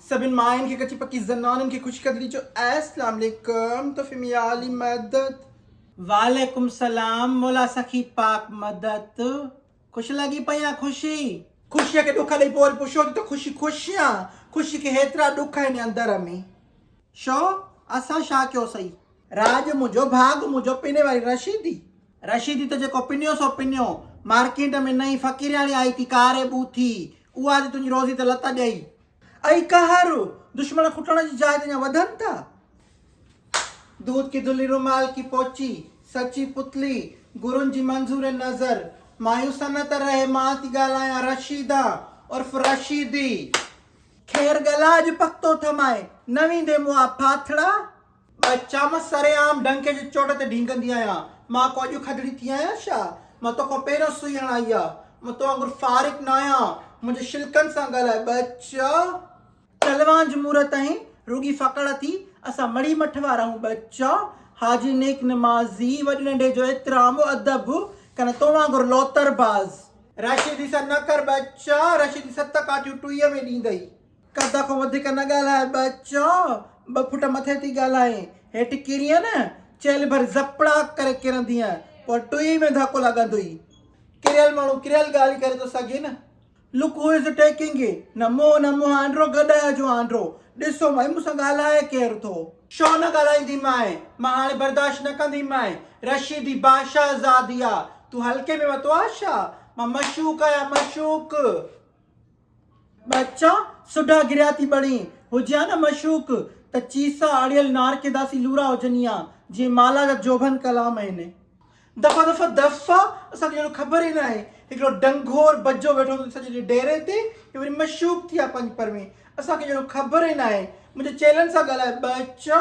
سڀني ماين کي ڪچي پڪي زنانن کي خوش قدري جو اسلام عليڪم تو فميالي مدد. وعليڪم سلام مولا سخي پاڪ مدد خوش لڳي پئي آ خوشي. خوشيء کي ڏک ڏئي پوء وري پڇو ٿي ته خوشي خوش يا خوشي کي هيترا ڏک آهن اندر ۾ شو اسان شا ڪيو سئي. راڄ منهنجو ڀاڳ منهنجو پني واري رشيدي. رشيدي ته جيڪو پنيو سو پنيو، مارڪيٽ ۾ نئين فقيرياڻي آئي ٿي ڪاري ٻوھ ٿي، اها جي تنهنجي روزي تي لت ڏئي. اي قهر! دشمن کٽڻ جي جاء تي اڃا وڌن ٿا. دود ڪي دلي رومال ڪي پوچي، سچي پتلي، گرون جي منظور نظر، مايوس نه ته رهي مان ٿي ڳالهايان رشيده عرف رشيدي. خير ڳلا اڄ پختو ٿمائي، نه ويندي مون آ ڦاٿڙا. مان چيامنس، سرعام ڊنڪي جي چوٽ تي ڍينگندي آهيان، مان ڪو اڄ کدڙي ٿي آهيان ڇا؟ مان توکان پهريون سوئي هڻائي آ. مان تو وانگر فارغ ناهيان، منهنجي شلڪن سان ڳالهاء، ٻچا! ٽلوان جموري تائين رڳي ڦڪڙ ٿي، اسان مڙئي مٺ وارا آهيون، ٻچا! حاجي نيڪ نمازي، وڏي ننڍي جو احترام و ادب، ڪنه تو وانگر لوتر باز. راشدي سان نه ڪر، ٻچا! راشدي ست ڪاٺيون ٽوئي ۾ ڏيندئي. قد کان وڌيڪ نه ڳالهاء ٻچو، ٻه فوٽ مٿي ٿي ڳالهائين، هيٺ ڪرينء نه، چيلهه ڀر زپڙاڪ ڪري ڪرندينء، پوء ٽوئي ۾ ڌڪو لڳندئي. ڪريل ماڻهو ڪريل ڳالهه ڪري ٿو سگهي نه. لڪ هو از ٽيڪنگ نه منهن نه منهن آنڊرو گڏهه جو آنڊرو، ڏسو مئي مون سان ڳالهائي ڪير ٿو. ڇو نه ڳالهائيندي مئي، مان هاڻي برداشت نه ڪندي مئي، رشيدي بادشاهه زادي آ، تون هلڪي ۾ ورتو آ ڇا، مان مشوق آهيان مشوق. ٻچا سوڍا گريا ٿي بڻي، هجي ها نه مشوق ته چيسا اڙيل نارڪيداسي لورا هجني ها، جيئن مالا جا جوڀن ڪلام آهن. دفعا دفعا دفعا اسان کي اهڙو خبر ئي ناهي، هڪڙو ڊنگور بجو ويٺو هوندو سڄي ڏينهن ڊيري تي يا وري مشوق ٿي ها پنج پروين، اسان کي اهڙو خبر ئي ناهي، منهنجي چيلن سان ڳالهاء ٻچا.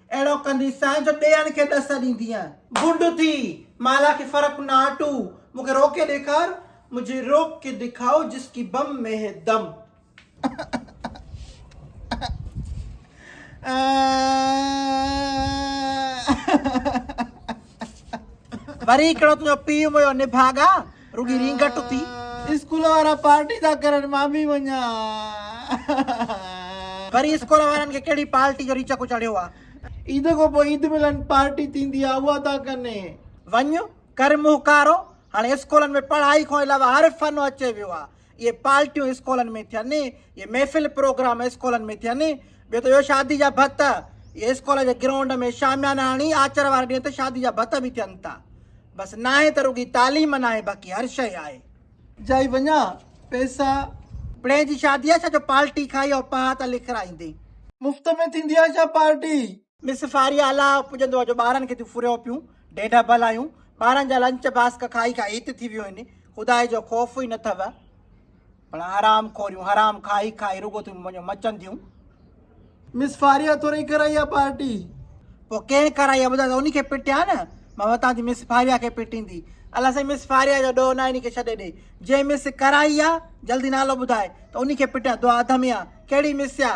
اهڙو ڪندي سان جو ٻين کي ڏس ڏيندينء. گنڊ ٿي، مالا کي فرق نه آٽو، مون کي روڪي ڏيکار. مجھي روڪ ڪي دکائو جس ڪي بم مين هي دم. وري هڪڙو تنهنجو پيء مويو نڀاڳا. رڳي رينگٽ اٿي. اسڪول وارا پارٽي ٿا ڪرن مان به وڃان. وري اسڪول وارن کي ڪهڙي پارٽي جو ريچڪو چڙهيو آ. عيد کان پوء عيد ملن پارٽي ٿيندي آ اها ٿا ڪن. وڃ ڪر مهڪارو هاڻي اسڪولن ۾ پڙهائي کان علاوه هر فن اچي ويو آ. اهي پارٽيون اسڪولن ۾ ٿين، اهي محفل پروگرام اسڪولن ۾ ٿين، ٻيو ته اهو شادي جا ڀت، اهي اسڪول جي گرائونڊ ۾ شاميانا هڻي آچر واري ڏينهن ته شادي جا ڀت به ٿين ٿا. بس ناهي ته رڳي تعليم ناهي باقي هر شيء آهي. جائي وڃان پئسا. پڙهين جي شادي آهي ڇا جو پارٽي کائي او پهات لکرائيندين. مفت ۾ ٿيندي آهي ڇا پارٽي. ۾ سفاري اعليٰ پڄندو هو جو ٻارن کي تون ڦريو پيون ڍيڍ ڀل آهيون ٻارن جا لنچ باسڪ کائي کائي هت ٿي ويو هين خدائي جو خوف ئي نه اٿئو ڀلا حرام خوريون حرام کائي کائي رڳو تون منهنجو مچن ٿيون مس فاريا تو ري ڪرائي آ پارٽي پو ڪين ڪرائي آ ٻڌا ته اني کي پٽيا نه مان وتان ٿي مس فاريا کي پٽيندي الله سائين مس فاريا جو ڏو نه اني کي ڇڏي ڏي جي مس ڪرائي آ جلدي نالو ٻڌائي ته اني کي پٽيا دعا اڌ ۾ آ ڪهڙي مس آ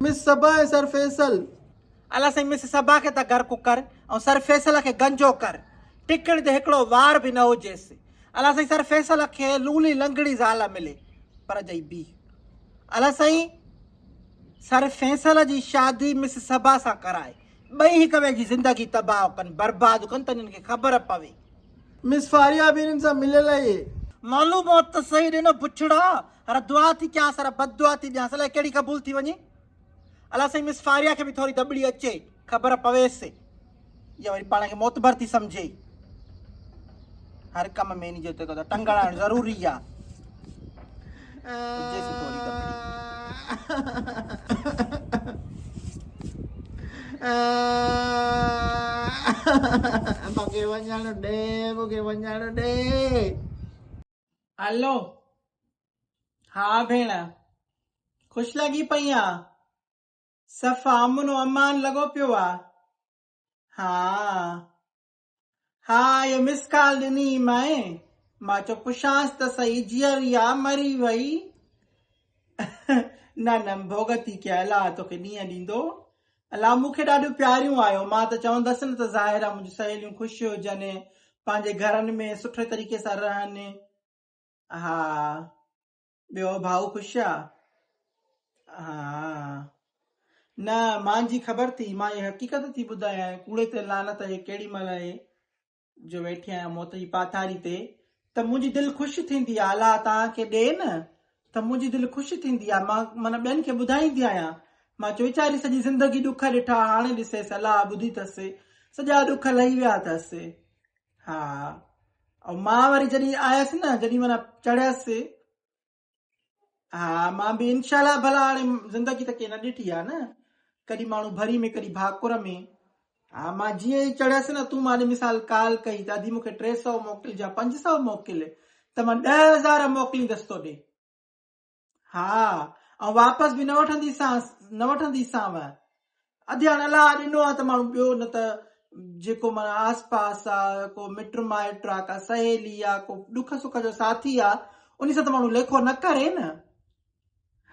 مس صبا ۽ سر فيصل الله سائين مس صبا کي ته غرق ڪر ۽ سر فيصل کي گنجو ڪر ٽڪڻ تي هڪڙو وار به نه هجيس الله سائين سر فيصل کي لولي لنگڙي زال ملي پر جئي بي الله سائين سر فيصل جي شادي مس صبا سان ڪرائي ٻئي هڪ ٻئي جي زندگي تباهه ڪن برباد ڪن ته انهن کي خبر پوي مس فاريا به انهن سان مليل آهي. معلوم هو ته صحيح ڏنو بڇڙا هر دعا ٿي ڪيانس هر بددعا ٿي ڏيانس الائي ڪهڙي قبول ٿي وڃي. الا سائين مس فاريا کي به ٿوري دٻڙي اچي خبر پويس يا وري پاڻ کي معتبر ٿي سمجھي هر ڪم ۾ ان جو تڪو ٽنگڙائڻ ضروري آ جيسي ٿوري دٻڙي مونکي وڃڻ ڏي مونکي وڃڻ ڏي هلو ها ڀيڻ خوش لڳي پئي آ صف امن و امان لڳو پيو آ ها ها اي مس ڪال ڏني مائين مان چو پڇانس ته سهي جيئري آ مري وئي نه نه ڀوڳتي ڪيل آ توکي ڏينهن ڏيندو الا مون کي ڏاڍيون پياريون آهيو، مان ته چوندس نه ته ظاهر آهي منهنجون سهيليون خوش هجن، پنهنجي گهرن ۾ سٺي طريقي سان رهن. ها ٻيو ڀائو خوش آ؟ ها نه مان جي خبر ٿي، مان هي حقيقت ٿي ٻڌايانء، ڪوڙي تي لعنت هي ڪهڙي مهل هي. جو ويٺي آهيان موت جي پاٿاري تي ته منهنجي دل خوش ٿيندي آهي الا توهان کي ڏي نه ته منهنجي دل خوش ٿيندي آهي مان من ٻين کي ٻڌائيندي آهيان مان چوي ويچاري سڄي زندگي ڏک ڏٺا هاڻي ڏسيس الا ٻڌي اٿس سڄا ڏک لهي ويا اٿس ها ۽ مان وري جڏهن آيس نه جڏهن من چڙهيس ها مان به انشاء الله ڀلا هاڻي زندگي ته ڪي نه ڏٺي آ نه ڪڏي ماڻهو ڀري ۾ ڪڏي ڀاڪر ۾ ها مان جي ئي چڙهيس نه تون مان مثال ڪال ڪئي ته ادي مونکي 300 موڪل جا 500 موڪل ته مان 10000 موڪلين دستو ڏي ها ۽ واپس به نه وٺندي سان نه وٺندي سان اڌيان الاء ڏنو آ ته ماڻهو ٻيو نه ته جيڪو معنيٰ آس پاس آ ڪو مٽ مائٽ آ ڪا سهيلي آ ڪو ڏک سک جو ساٿي آ انهي سان ته ماڻهو ليکو نه ڪري نه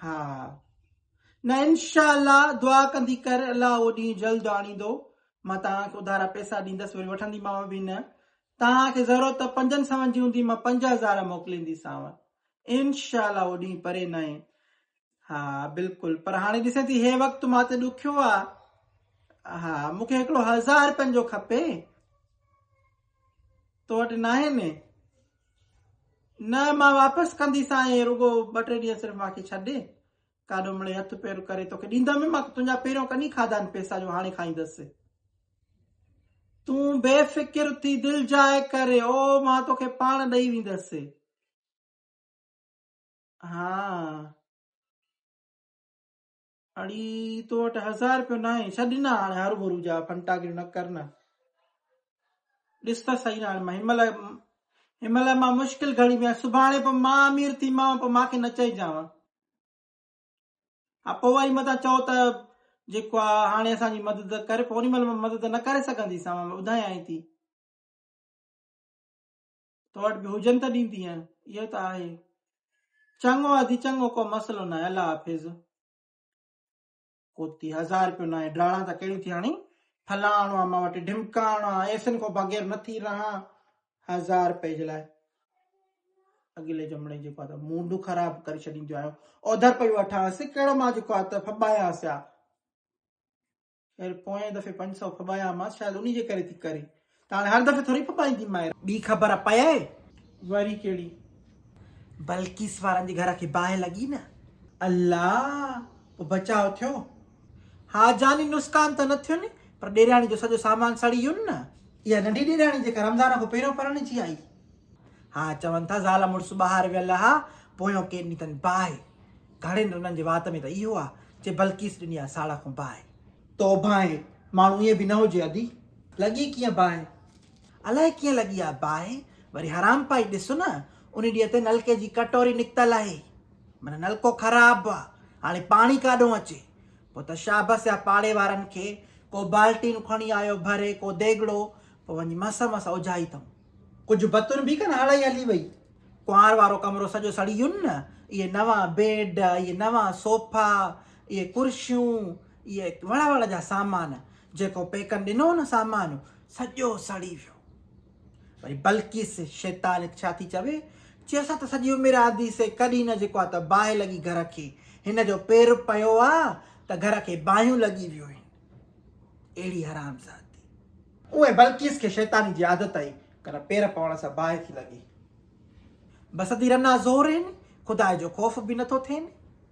ها نه انشاء الله دعا ڪندي ڪر الاء اهو ڏينهن جلد آڻيندو مان توهان کي اڌارا پئسا ڏيندس وري وٺنديمانو به نه توهان کي ضرورت پنجن سون جي هوندي مان پنج هزار موڪلينديسانو انشاء الله اهو ڏينهن پري ناهي ها بلڪل پر هاڻي ڏسين ٿي هي وقت مان تي ڏکيو آ ها مون کي هڪڙو هزار رپين جو کپي تو وٽ ناهي نه نه مان واپس ڪندي سائين رڳو ٻه ٽي ڏينهن صرف ماکي ڇڏي ڪاڏو مڙي هٿ پير ڪري توکي ڏيندم مان تنهنجا پهريون ڪني کاڌا آهن پيسا جو هاڻي کائيندس تون بي فڪر ٿي دل جاء ڪري او مان توکي پاڻ ڏئي ويندس ها اڙي تو وٽ هزار روپيو نه آهي ڇا ڏنا هاڻي هر ڀرو جا فنٽا گير نه ڪر نه ڏس ته صحيح هاڻي مان همل همل مان مشڪل گهڙي ۾ سڀاڻي پوء مان امير ٿي مان پوء ماکي نه چئجان ها پوء وري متان چئو ته جيڪو آهي هاڻي اسان جي مدد ڪري پوء ان مهل مان مدد نه ڪري سگهنديسان مان ٻڌايان ٿي تو وٽ به هجن ته ڏيندينء، اهو ته آهي. چڱو آ ڌي چڱو، ڪو مسئلو ناهي، الله حافظ. ڪوتي هزار رپيو ناهي، ڊاڙان ته ڪهڙيون ٿي هڻين، ڦلاڻو آ مان وٽ، ڍمڪاڻو آ، ايسن کان بغير نٿي رهان، هزار رپئي جي لاء. اڳلي جمڙي جيڪو آ ته موڊ خراب ڪري ڇڏينديون آهيون، اوڌر پئي وٺانس، ڪهڙو مان جيڪو آ ته ڦٻايانس آ. خير پوئين دفعي پنج سؤ ڦٻايامانس شايد انهي جي ڪري ٿي ڪري ته هاڻي هر دفعي ٿوري ڦٻائيندي مائر. ٻي خبر پيئي؟ وري ڪهڙي؟ بلقيس وارن جي گهر کي باهه لڳي نه. الا! پوء بچاء ٿيو؟ ها جاني نسڪان ته نه ٿين پر ڏيرياڻي جو سڄو سامان سڙي ويون نه. اها ننڍي ڏيرياڻي جيڪا رمضان کان پهريون پرڻجي آئي؟ ها چون ٿا زال مڙس ٻاهر ويل ها پويون ڪين ڏني اٿن باهه. گهڙين رنن جي وات ۾ ته اهو آ جي بلقيس ڏني آ ساڙهه کون باهه. تو ڀانء ماڻهو ائين به نه هجي ادي، لڳي ڪيئن باهه؟ الائي ڪيئن لڳي آ باهه، وري حرام پائي ڏس نه انهي ڏينهن تي نلڪي جي ڪٽوري نڪتل آهي، من نلڪو خراب آ، هاڻي پاڻي ڪاڏهون اچي؟ پوء ته شابس آ پاڙي وارن کي، ڪو بالٽيون کڻي آيو ڀري، ڪو ديڳڙو، پوء وڃي مس مس اوجهائي ٿئون. ڪجهه بتون به ڪن هڙئي هلي وئي. ڪنوار وارو ڪمرو سڄو سڙي ويو نه. اهي نوان بيڊ، اهي نوان صوفا، اهي ڪرسيون، اهي وڙ وڙ جا سامان، جيڪو پيڪن ڏنو هو نه سامان، سڄو سڙي ويو. وري بلقيس شيطانيت ڇا ٿي چوي، چي اسان ته سڄي عمر آندي سي ڪڏهن نه جيڪو آ ته باهه لڳي گهر کي، هن جو پير پيو آ ته گهر کي باهيون لڳي ويون آهن. اهڙي حرامزادي! اونء بلقيس کي شيطاني جي عادت آهي، ڪنھن پير پوڻ سان باهه ٿي لڳي. بسدي رنا زورين، خداء جو خوف به نه ٿو ٿين.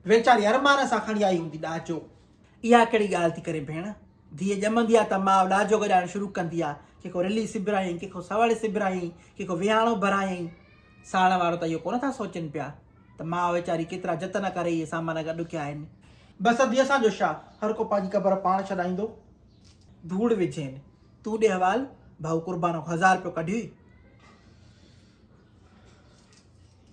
ويچاري ارمان سان کڻي آئي هوندي ڏاجو. اها ڪهڙي ڳالهه ٿي ڪرين ڀيڻ. ڌيء ڄمندي آ ته ماء ڏاجو گڏائڻ شروع ڪندي آ، ڪي ڪو رلي سبرايائين، ڪي ڪو سوڙي سبرايائين، ڪي ڪو ويهاڻو ڀرايائين. ساڙڻ وارو ته اهو ڪونه ٿا سوچين پيا ته ماء ويچاري ڪيترا جتن ڪري اهي سامان گڏ ڪيا آهن. بسديء سان جو شا، هر ڪو پنھنجي قبر پاڻ ڇڏائيندو. ڌوڙ وجهين. تون ڏي حوال. ڀائو قربانو کان هزار رپيو ڪڍي.